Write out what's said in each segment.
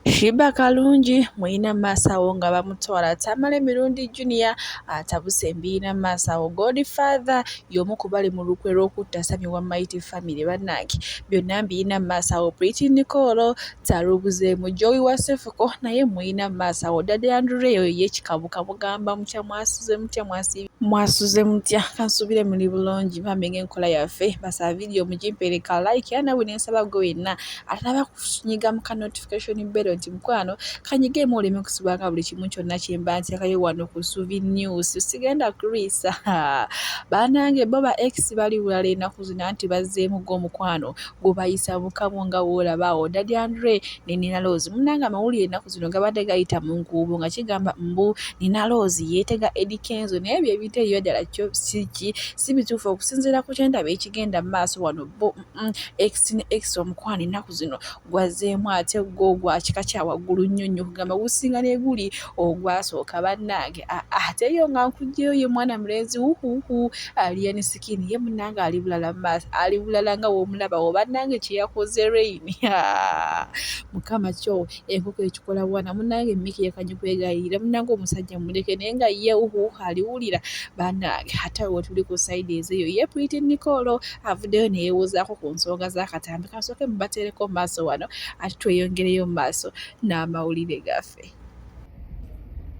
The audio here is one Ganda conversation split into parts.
Sheebah Kalungi mulina mu maaso awo nga bamutwala Tamale Mirundi Junior atabuse mbirina mu maaso awo Godfather y'omu ku bali mu lukwe lw'okutta Sammy wa Mighty Family bannange byonna mbirina mu maaso awo Pretty Nicole Tarubuzeemu Joey wa Sefuko naye mulina mu maaso awo Daddy Andrew eyo ye Kikabuka mugamba mutya mwasuze mutya mwasiibye mwasuze mutya kansubire muli bulungi bambi ng'enkola yaffe basaba vidiyo mugimpeere ka like era nawe ne nsaba gwe wenna atalaba nyiga mu ka notification bell nti mukwano kanyigemu oleme kusubanga buli kimu kyonna kyemba ntekayo wano ku suvi news sigenda kulwisa banange bo ba ex bali bulala enaku zina nti bazzeemu go omukwano gubayisa mukamu nga woolabaawo dadi andre ne nina loozi munange amawulire enaku zino gabadde gayita mu nkuubo nga kigamba mbu nina loozi yeetega edikenzo naye byebiteeyo ddala kyo siki si bituufu okusinziira ku kyendaba ekigenda mu maaso wano bo Mm, ex ne ex omukwano ennaku zino gwazeemu ate gwo gwa kika kya waggulu nnyo nnyo kugamba gusinga neguli ogwasooka bannange ah, ah, ate yo nga nkugyeyo ye mwana mulenzi wuhuhu aliyeni sikini ye munange ali bulala mu maaso ali bulala nga womulabawo bannange kyeyakoze rein mukama kyo enkoko ekikola bwana munange Mickey yakanye kwegayirira munange omusajja muleke naye nga ye uhu aliwulira banange ate awo tuli ku side ezeyo ye Pretty Nicole avuddeyo neyewozaako ku nsonga z'akatambi kansooke mubateereko maaso wano ate tweyongereyo mu maaso n'amawulire gaffe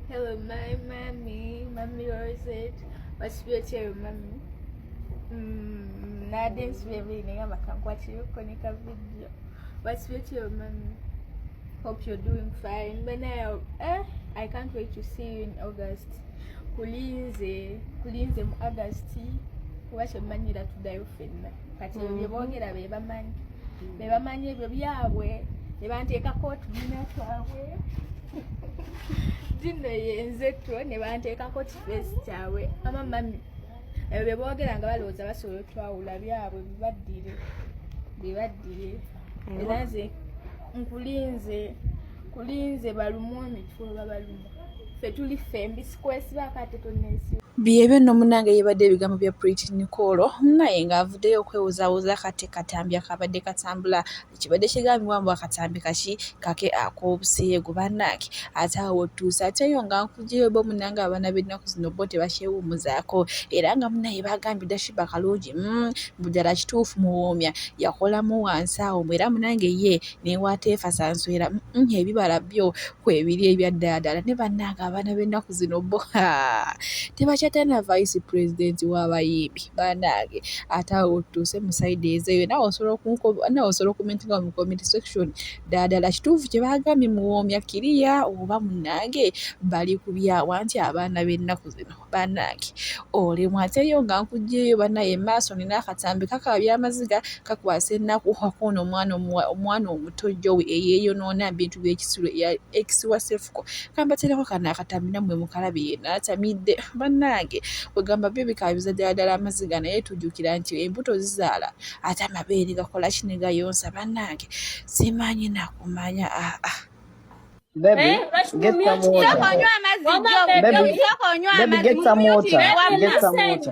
Hello my mommy, mommy Rosette, what's your chair mommy? Mm, nade nsubira buli naye abakankwatira okukoneka video What's with your mommy? Hope you're doing fine. But now, eh, I can't wait to see you in August. Kulinze, kulinze mu August. Kuba kyemmanyira tuddayo fenna. Kati mm. bye boogera be bamanyi. Mm. Be bamanyi ebyo byabwe. Ne banteekako otubiina twabwe. Dinno yenze two ne banteekako kifeesi kyabwe. Ama mami. ebyo bye boogera nga balowooza basobola otwawula byabwe bibaddire bibaddire era nze nkulinze kulinze balumu emitwe babalumu ffe tuli ffe mbisikwesiba kate tonesi byebyo nno munange yebadde ebigambo bya Pretty Nicole naye ng'avuddeyo okwewuzawuza kati katambi akabadde katambula kibadde kigambibwa mbu akatambi kaki kake ak'obuseegu bannange ate awo otuuse ate eyo nga nkujeyo bo munange abaana b'ennaku zino bo tebakyewummuzaako era nga munaye bagambye dashiba kalungi mm, mbu ddala kituufu muwoomya yakolamu wansi awo mbu era munange ye newateefa sanswera mm, ebibala byo kwebiri ebya ddala ddala ne bannange abaana b'ennaku zino bo tebakyatalina vice president w'abayimbi banange ate awo otuuse mu sayidi ezeyo nawe osobola nawe osobola okumentinga mu comment section ddadala kituufu kye bagambye muwoomya kiriya oba munange bali kubyawa nti abaana b'ennaku zino banange olemwa ateyo nga nkugyeyo banaye maaso nina akatambi kakaba byamaziga kakwasa ennaku wakoona omwana omwana omuto jowe eyeyonoona bintu by'ekisulo eya ekisiwa sefuko kambatereko kano akatambi nammwe mukalabi yena atamidde bannange kwegamba byo bikabiza ddala ddala amaziga naye tujjukira nti embuto zizaala ate amabeere gakola ki ne gayonsa bannange simanyi nakumanya aa ah, ah. Baby, eh, get some water. Baby, get some water. Get some water.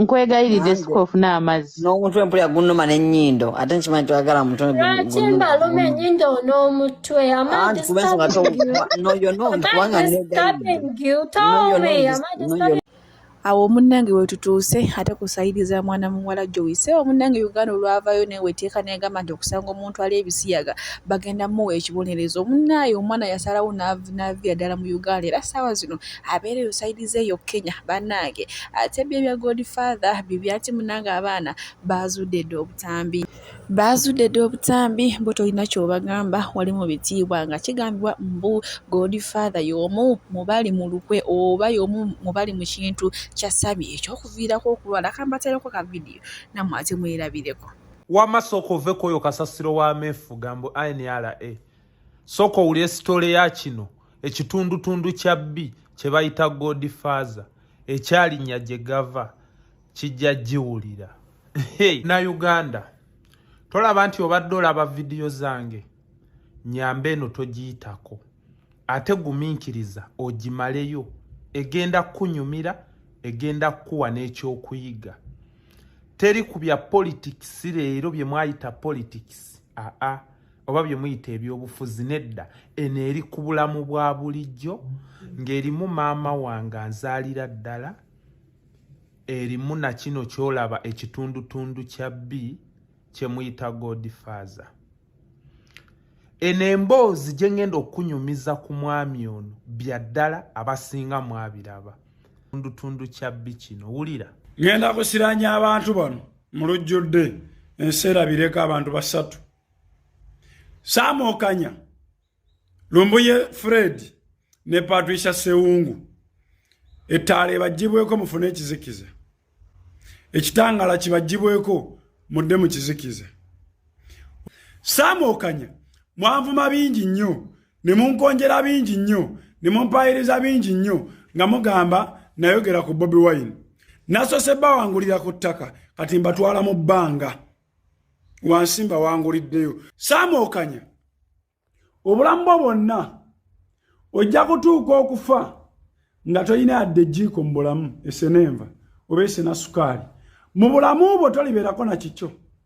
nkwegayiridde sikuwa ofuna amazzi n'omutwe mpulira gunnuma n'ennyindo ate nkimanyi twagala mutwe lwaki mbaluma ennyindo n'omutwe awo omunnange wetutuuse ate kusayiriza mwana muwala jowise omunnange uganda olwavayo newe teeka negamba nti okusanga omuntu ali ebisiyaga bagenda muwa ekibonerezo omunnaaye omwana yasalawo navira ddala mu uganda era saawa zino abeera eyo sayidi ze eyo kenya bannange ate byo ebya godfather bibya nti munange abaana baazudde dda obutambi baazudde dda obutambi bo tolina kyobagamba wali mu bitiibwa nga kigambibwa mbu godfather y'omu mubali mu lukwe oba y'omu mubali mu kintu kya sami ekyokuviirako okulwala kambatereko ka vidiyo namwe ate mwerabireko wama sooka ove kwoyo kasasiro wa mefuga mbu nra sooka owulire sitole ya kino ekitundutundu kya bbi kye bayita god faza ekyalinnya gye gava kijja giwulira na uganda tolaba nti obadde olaba vidiyo zange nyamba eno togiyitako ate gumiikiriza ogimaleyo egenda kukunyumira egenda kukuwa n'ekyokuyiga teri ku bya politics leero bye mwayita politics aa ah, ah. oba bye muyita ebyobufuzi nedda eno eri ku bulamu bwa bulijjo ng'erimu maama wange anzaalira ddala erimu na kino kyolaba ekitundutundu kya bbi kye muyita godfaza eno emboozi gye ngenda okunyumiza ku mwami ono bya ddala abasinga mwabiraba tundutundu kya bbi kino wulira ngenda kusiranya abantu bano mu lujjudde ensi erabireko abantu basatu saamokanya lumbuye fred ne patricia sewungu ettaala ebagibweko mufune ekizikiza ekitangala kibagibweko mudde mu kizikiza saamokanya mwanvuma bingi nnyo ne munkonjera bingi nnyo ne mumpaayiriza bingi nnyo nga mugamba nayogera ku bobi wine nasose bawangulira ku ttaka kati mbatwala mu bbanga wansi mbawanguliddeyo saamuokanya obulamu bwo bwonna ojja kutuuka okufa nga tolina yadde ejjiiko mu bulamu esenenva oba esenasukaali mu bulamu bwo tolibeerako na kikyo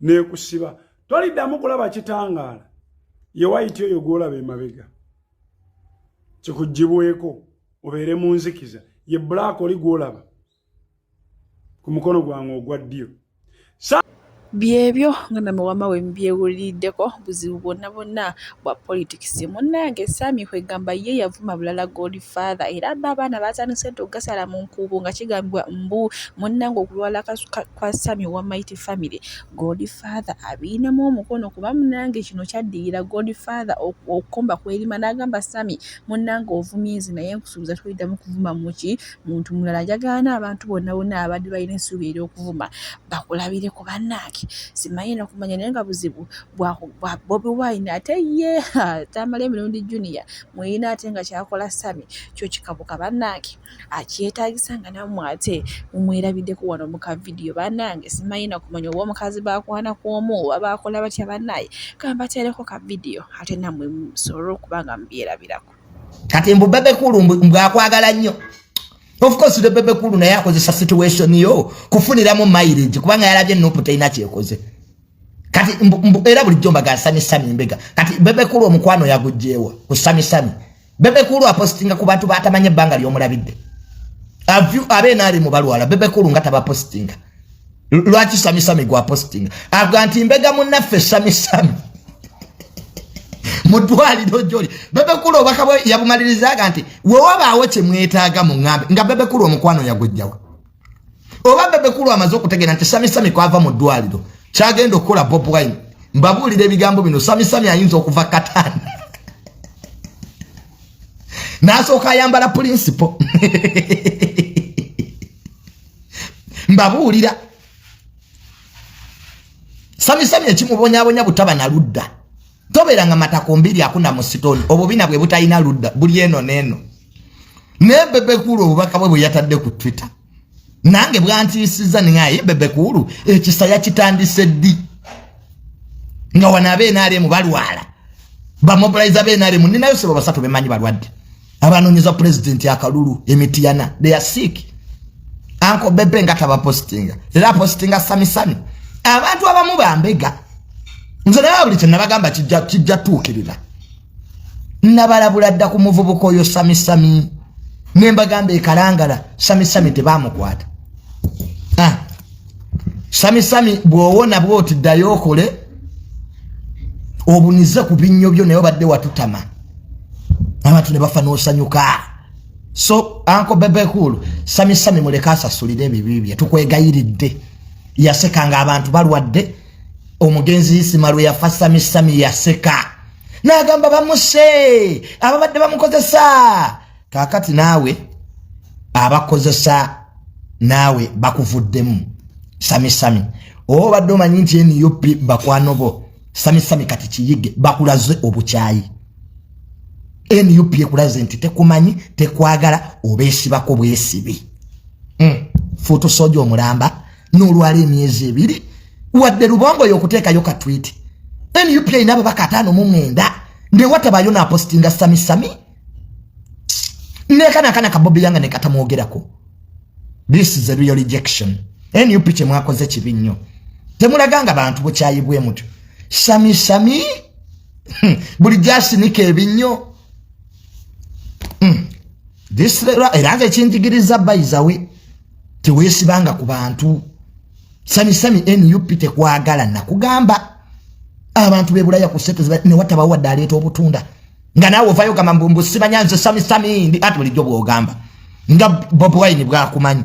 nekusiba toliddamu kulaba kitangaala yewayiti oyo gwolaba emabega kikugibweko obeere mu nzikiza ye black oli gwolaba ku mukono gwange ogwa ddyo byebyo nga name wama we mbyewuliddeko buzibu bwonna bwonna bwa politics munnange Sammy kwegamba ye yavuma bulala Godfather era bo abaana baatandise dda okugasala mu nkuubo nga kigambibwa mbu munnange okulwala kwa Sammy wa Mighty Family Godfather abiinamu omukono kuba munnange kino kyaddirira Godfather okukomba kw'erima n'agamba Sammy munnange ovumye nze naye nkusuubiza toliddamu kuvuma muki muntu mulala njagala abantu bonna bonna abadde balina essuubi ery'okuvuma bakulabire ku bannaaki simanyi nakumanya naye nga buzibu gwa bobi wine ate ye tamala emirundi junior muyina ate nga kyakola sami kyo kikabuka banange akyetagisa nga namwe ate mumwerabideko wano muka vidiyo banange simayina kumanya oba omukazi bakwana kwomu oba bakola batya banaye kambatereko ka vidiyo ate namwe musobole okubanga mubyerabirako kati mbu bebe kulu mbwakwagala nnyo of course the bebe kulu naye akozesa situation yo kufuniramu mileage kubanga yalabye nupu teyina kyekoze kati era bulijjo mbaga sami sami mbega kati bebe kulu omukwano yagujjeewa ku sami sami bebe kulu apostinga ku bantu batamanye ebbanga lyomulabidde avyu abeena ali mu balwala bebe kulu nga tabapostinga lwaki sami sami gwa postinga avuga nti mbega munnaffe sami sami mudwaliro joli bebe kulu obaka yabumalirizaga nti wewabaawo kyemwetaaga mu ngambe nga bebe kulu omukwano yagujjawa oba bebe kulu amaze okutegera nti sami sami kwava mu ddwaliro kyagenda okukola bob wine mbabuulira ebigambo bino sami sami ayinza okuva katani nasooka ayambala pulinsipo mbabuulira sami sami ekimubonyabonya butaba naludda tobeeranga matako mbiri akuna mu sitoni obubina bwe butalina ludda buli eno n'eno naye bebekuulu obubaka bwe bwe yatadde ku twitter nange bwantiisiza ningaye bebekuulu ekisa yakitandise ddi nga wano abeenaale mu balwala bamobilize abeenaale mu ninayo sebo basatu bemanyi balwadde abanonyeza president akalulu emitiyana they are sick anko bebe nga taba postinga era postinga sami sami abantu abamu bambega nze naye buli kyenabagamba kijja kijja tuukirira nabalabula dda ku muvubuka oyo sami sami nembagamba ekalangala sami sami tebamukwata sami sami bwowona bwoti ddayo okole obunize ku binnyo byo naye obadde watutama abantu ne bafa n'osanyuka so anko bebekulu sami sami muleke asasulire ebibi bye tukwegayiridde yaseka nga abantu balwadde omugenzi isima lwe yafa sami sami yaseka n'agamba bamuse ababadde bamukozesa kakati naawe abakozesa naawe bakuvuddemu samisami oba obadde omanyi nti nup bakwano bo samisami kati kiyige bakulaze obukyayi nup ekulaze nti tekumanyi tekwagala obesibako bwesibi hmm. fuutu soja omulamba nolwala emyezi ebiri wadde lubongo yokuteekayo katwiti nup erina babaka ataano mu mwenda newatabayo napostinga samisami nekana kana kabobi yanga nekatamwogerako this is a real rejection nup kyemwakoze kibi nnyo temulaganga bantu bukyayi bwe mutyo sami sami hmm. buli gyasinika ebinnyo hmm. era nze ekinjigiriza bayizawe teweesibanga ku bantu sami sami nup tekwagala nakugamba abantu bebulaya ku sente newatabawo wadde aleeta obutunda nga naawe ovayo gamba mbu mbu simanya nze sami sami ndi ati bulijjo bwogamba nga bob wine bwakumanyi